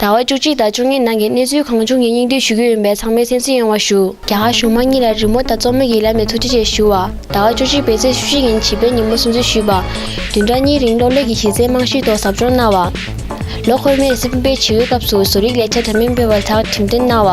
ཟླ་བ་བཅུ་གཅིག་དང་བཅུ་གཉིས་ནང་གི་གནས་ཚུལ་གང་བྱུང་གི་སྙིང་བསྡུས་ཞུ་རྒྱུ་ཡིན་པས་ཚང་མས་སེམས་གསོ་ཡོང་བ་ཞུ། རྒྱ་གར་གཞུང་མང་གཉིས་ལ་རི་མོ་དང་རྩོམ་མེད་ཀྱི་ལམ་ནས་ཐུགས་རྗེ་ཆེ་ཞུ་བ། ཟླ་བ་བཅུ་གཅིག་པའི་ཚེས་བཅུ་གཅིག་ཉིན་བྱིས་པའི་ཉིན་མོ་སྲུང་བརྩི་ཞུས་པ། བདུན་ཕྲག་གཉིས་རིང་གློག་ཀླད་ཀྱི་གཞི་རྩའི་རྨང་གཞིའི་ཐོག་ཟབ་སྦྱོང་གནང་བ། ལོ་འཁོར་མའི་སྲིད་དཔོན་པའི་བྱིས་བའི་སྐབས་སུ་བཟོ་རིག་ལས་འཆར་འདྲ་མིན་སྤེལ་བར་ལྷག་གྲིམ་སྟོན་གནང་བ།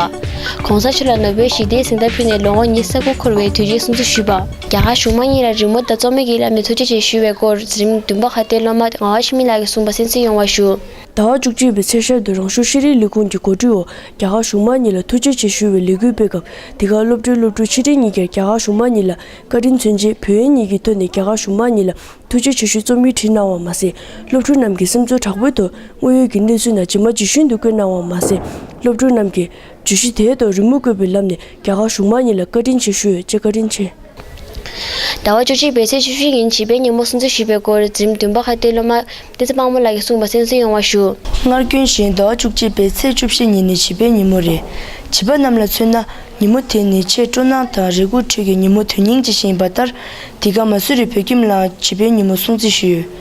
གོང་ས་མཆོག་ལ་ནོ་བེལ་ཞི་བདེའི་གཟེངས་རྟགས་ཕུལ་ནས་ལོ་ངོ་ཉིས་ས་དགུ་འཁོར་བའི་དུས་ཆེན་སྲུང་བརྩི་ཞུས་པ། རྒྱ་གར་གཞུང་མང་གཉིས་ལ་རི་མོ་དང་རྩོམ་མེད་ཀྱི་ལམ་ནས་ཐུགས་རྗེ་ཆེ་ཞུ་བའི་སྐོར་གཟི་རིམ་བདུན་པ་ཁ་བརྡའི་སློབ་མ་རྔ་བ་ཤི་མི་ལགས་ཀྱིས་གསུངས་པ་སེམས་གསོ་ཡོང་བ་ཞུ། ཟླ་བ་བཅུ་གཅིག་པའི་ཚེས་ཤར་དུ་རང་ཤུགས་ཤེས་རིག་ལས་ཁུངས་ཀྱི་གོ་སྒྲིག་འོག་རྒྱ་གར་གཞུང་མང་གཉིས་ལ་ཐུགས་རྗེ་ཆེ་ཞུ་བའི་ལས་འགུལ་སྤེལ་སྐབས་དེ་གར་སློབ་གྲྭའི་སློབ་ཕྲུག་ཆིག་ཁྲི་གཉིས་བརྒྱར་རྒྱ་གར་གཞུང་མང་གཉིས་ལ་བཀའ་དྲིན་མཚོན་ཆེད་བོད་ཡིག་ཉིད་ཀྱི་ཐོག་ནས་རྒྱ་གར་གཞུང་མང་གཉིས་ལ་ཐུགས་རྗེ་ཆེ་ཞུའི་རྩོམ་ཡིག་བྲིས་གནང་བ་མ་ཟད་སློབ་ཕྲུག་རྣམས་ཀྱི་སེམས་ཚོར་དྲག་པོའི་ཐོག་དངོས་ཡོད་ཀྱི་གནས་ཚུལ་རྣམས་ཇི་མ་ཇི་བཞིན་དུ་བཀོད་གནང་བ་མ་ཟད་སློབ་ཕྲུག་རྣམས་ཀྱི་བརྗོད་གཞི་དེའི་ཐོག་རི་མོ་བརྐོས་པའི་ལམ་ནས་རྒྱ་གར་གཞུང་མང་གཉིས་ལ་བཀའ་དྲིན་ཆེ་ཞུ་ཡོད་ཅེས་བཀའ་དྲིན་ཆེ། ཟླ་བ་བཅུ་གཅིག་པའི་ཚེས་བཅུ་བཞི་ཉིན་བྱིས་པའི་ཉིན་མོ་སྲུང་བརྩི་ཞུས་པའི་སྐོར་འཛིན་བདུན་པ་ཁ་བརྡའི་སློབ་མ་བསྟན་འཛིན་དཔའ་མོ་ལགས་ཀྱིས་གསུངས་པ་གསན་གསུང་ཡོང་བ་ཞུ། སྔར་རྒྱུན་བཞིན་ཟླ་བ་བཅུ་གཅིག་པའི་ཚེས་བཅུ་བཞི་ཉིན་ནི་བྱིས་པའི་ཉིན་མོ་རེད། བྱིས་པ་རྣམས་ལ་མཚོན་ན་ཉིན་མོ་དེ་ནི་ཆེས་སྤྲོ་སྣང་དང་རེ་སྒུག་ཁྲོད་ཀྱི་ཉིན་མོ་དོན་སྙིང་ཅན་ཞིག་ཡིན་པ་ལྟར་འདི་ག་མ་སུ་རི་བོད་ཁྱིམ་ལའང་བྱིས་པའི་ཉིན་མོ་སྲུང་བརྩི་ཞུས་ཡོད།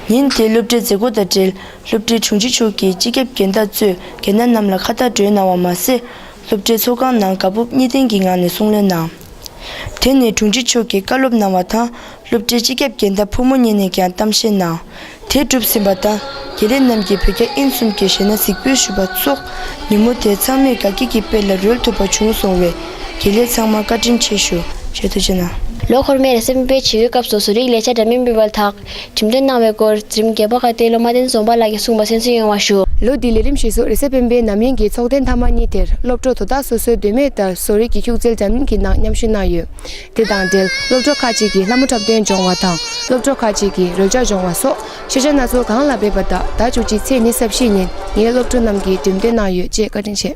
ཉིན་དེའི་སློབ་གྲྭའི་མཛད་སྒོ་དང་འབྲེལ་སློབ་གྲྭའི་དྲུང་ཆེ་མཆོག་གིས་སྤྱི་ཁྱབ་རྒན་བདག་གཙོས་རྒན་བདག་རྣམས་ལ་ཁ་བརྡ་སྒྲོན་གནང་བ་མ་ཟད། སློབ་གྲྭའི་ཚོགས་ཁང་ནང་དགའ་སྤོབས་གཉིས་ལྡན་གྱི་ངང་ནས་གསུང་གླེང་གནང། དེ་ནས་དྲུང་ཆེ་མཆོག་གིས་བཀའ་སློབ་གནང་བ་དང་སློབ་གྲྭའི་སྤྱི་ཁྱབ་རྒན་བདག་ཕོ་མོ་གཉིས་ནས་ཀྱང་གཏམ་བཤད་གནང། དེ་གྲུབ་ཟིན་པ་དང་དགེ་ལས་རྣམས་ཀྱིས་བོད་རྒྱ་ཨིན་གསུམ་གྱི་གཞས་སྣ་གཟིགས་འབུལ་ཞུས་པ་སོགས་ཉིན་མོ་དེ་ཚང་མས་དགའ་སྐྱིད་ཀྱི་དཔལ་ལ་རོལ་ཐུབ་པ་བྱུང་སོང་བས་དགེ་ལས་ཚང་མར་བཀའ་དྲིན་ཆེ་ཞུ་ཞེས་ཐུགས་རྗེ་གནང། ལོ་འཁོར་མེར་སྲིང་བོད་ཕྱི་བའི་སྐབས་སུ་ཟུར་ཡིག་ལས་བྱ་སྒྲ་མི་འབུལ་བ་ལགས། ཁྲིམས་དོན་གནང་བའི་སྐོར་རྩིས་རིམ་བརྒྱད་པ་ཁ་གཏད་ལོ་མ་བསྟན་འཛོམས་པ་ལགས་ཀྱིས་གསུངས་པ་གསན་སྲོལ་ཡོང་བ་ཞུ། ལོ་དེའི་ལས་རིམ་ཞིག་སོགས་རེས་གཟའ་སྤེན་པའི་ནམ་ཡིན་གྱི་ཚོགས་གདན་མཐའ་མ་གཉིས་དེར་སློབ་གྲོགས་དོ་བདག་སོ་སོའི་འདོད་མོས་ལྟར་བཟོ་རིག་གི་ཤུགས་རྩལ་འདྲ་མིན་གྱི་ནང་མཉམ་ཞུགས་གནང་ཡོད། དེ་དང་འབྲེལ་སློབ་གྲོགས་ཁག་ཅིག་གིས་ལྷ་མོ་འཁྲབ་སྟོན་སྦྱོང་བ་དང་སློབ་གྲོགས་ཁག་ཅིག་གིས་རོལ་ཆ་སྦྱོང་བ་སོགས་ཤེས་བྱ་སྣ་ཚོགས་གང་ལ་འབད་པ་དག་ཟླ་བཅུ་གཅིག་ཚེས་ཉེར་གསབ་བཞི་ཉིན་ངའི་སློབ་གྲོགས་རྣམས་ཀྱིས་འགྲེམས་སྟོན་གནང་ཡོད་ཅེས་བཀའ་དྲིན་ཆེ།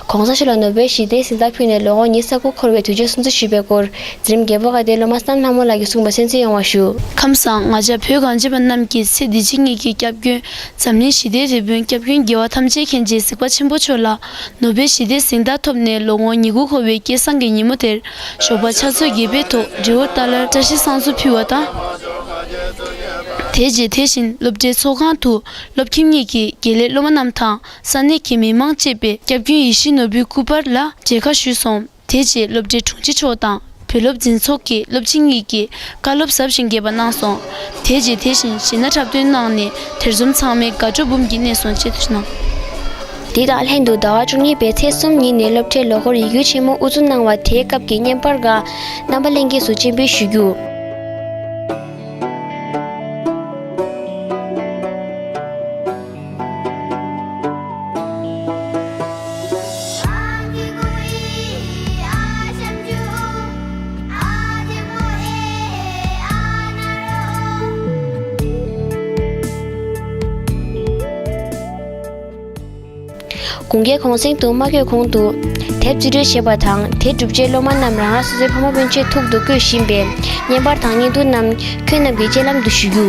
གོང་ས་ཤོ་ལ་ནོ་བེལ་ཞི་བདེའི་གཟེངས་རྟགས་ཕུལ་ནས་ལོ་ངོ་ཉིས་གསར་བུ་འཁོར་བའི་དུས་ཆེན་སྲུང་བརྩི་ཞུས་པའི་སྐོར། འཛིན་རིམ་བརྒྱད་པོ་དགའ་ལྡན་སློབ་མ་སམ་ལྷ་མོ་ལགས་ཀྱིས་གསུངས་པ་གསན་འཚོལ་ཡོང་བ་ཞུ། ཁམས་བཟང་ང་ཅག་བོད་གངས་ཅན་པ་རྣམས་ཀྱིས་ཚེ་འདི་ཕྱི་གཉིས་ཀྱི་སྐྱབས་མགོན་འཛམ་གླིང་ཞི་བདེའི་རེ་སྤུན་སྐྱབས་མགོན་རྒྱལ་བ་ཐམས་ཅད་མཁྱེན་བརྗེའི་གཟིགས་པ་ཆེན་པོ་མཆོག་ལ་ནོ་བེལ་ཞི་བདེའི་གཟེངས་རྟགས་ཐོབ་ནས་ལོ་ངོ་ཉི་དགུ་འཁོར་བའི་སྐལ་བཟང་གི་ཉིན་མོ་དེར་ཞོགས་པ་ཕྱག་ཚོད་བརྒྱད་པའི་ཐོག་སྒྲེ་ཨོར་ཏཱ་ལར་བཀྲ་ཤིས་བསང་གསོལ་ཕུལ་བ་དང། དེའི་རྗེས་དེ་བཞིན་སློབ་གྲྭའི་ཚོགས་ཁང་དུ་སློབ་ཁྱིམ་གཉིས་ཀྱི་དགེ་ལས་སློབ་མ་རྣམས་དང། ས་གནས་ཀྱི་མི་མང་བཅས་པས་སྐྱབས་རྒྱུན་ཡིད་བཞིན་ནོར་བུའི་སྐུ་པར་ལ་མཇལ་ཁ་ཞུས་སོང། དེ་རྗེས་སློབ་གྲྭའི་དྲུང་ཆེ་མཆོག་དང་བུ་སློབ་འཛིན་ཚོགས་ཀྱི་སློབ་སྤྱི་གཉིས་ཀྱིས་བཀའ་སློབ་ཟབ་ཞིང་རྒྱས་པ་གནང་སོང། དེ་རྗེས་དེ་བཞིན་གཞི་ན་འཁྲབ་སྟོན་གནང་ནས་དེར་འཛོམས་ཚང་མས་དགའ་སྤྲོ་འབུམ་གྱིས་གནས་སོང་ཅེས་གནང། དེ་དང་ལྷན་དུ་ཟླ་བ་བཅུ་གཉིས་པའི་ཚེས་གསུམ་ཉིན་ནས་སློབ་གྲྭའི་ལོ་འཁོར་ཡིག་སྒྱུར་ཆེན་མོ་དབུ་འཛུགས་གནང་བ་དེའི་སྐབས་ཀྱི་བརྙན་པར་འགའ་རྣམ་པ་གླེང་སྐྱེས་སུ་སྤྱན་འབུལ་ཞུ་རྒྱུ། དགུན་ཁའི་གུང་གསེང་དུ་མ་གོས་གོང་དུ། དེབ་རྩིས་སྤྲོད་བྱེད་པ་དང་དེ་བསྒྲུབ་རྗེས་སློབ་མ་རྣམས་རང་རང་སོ་སོའི་ཕ་མ་སྤུན་མཆེད་ཐུག་ཏུ་བསྐོས་བཞིན་པས་བརྙན་པར་དང་བརྙན་ཐུང་རྣམས་ཁྱོད་རྣམས་ཀྱི་སྤྱན་ལམ་དུ་ཞུ་རྒྱུ།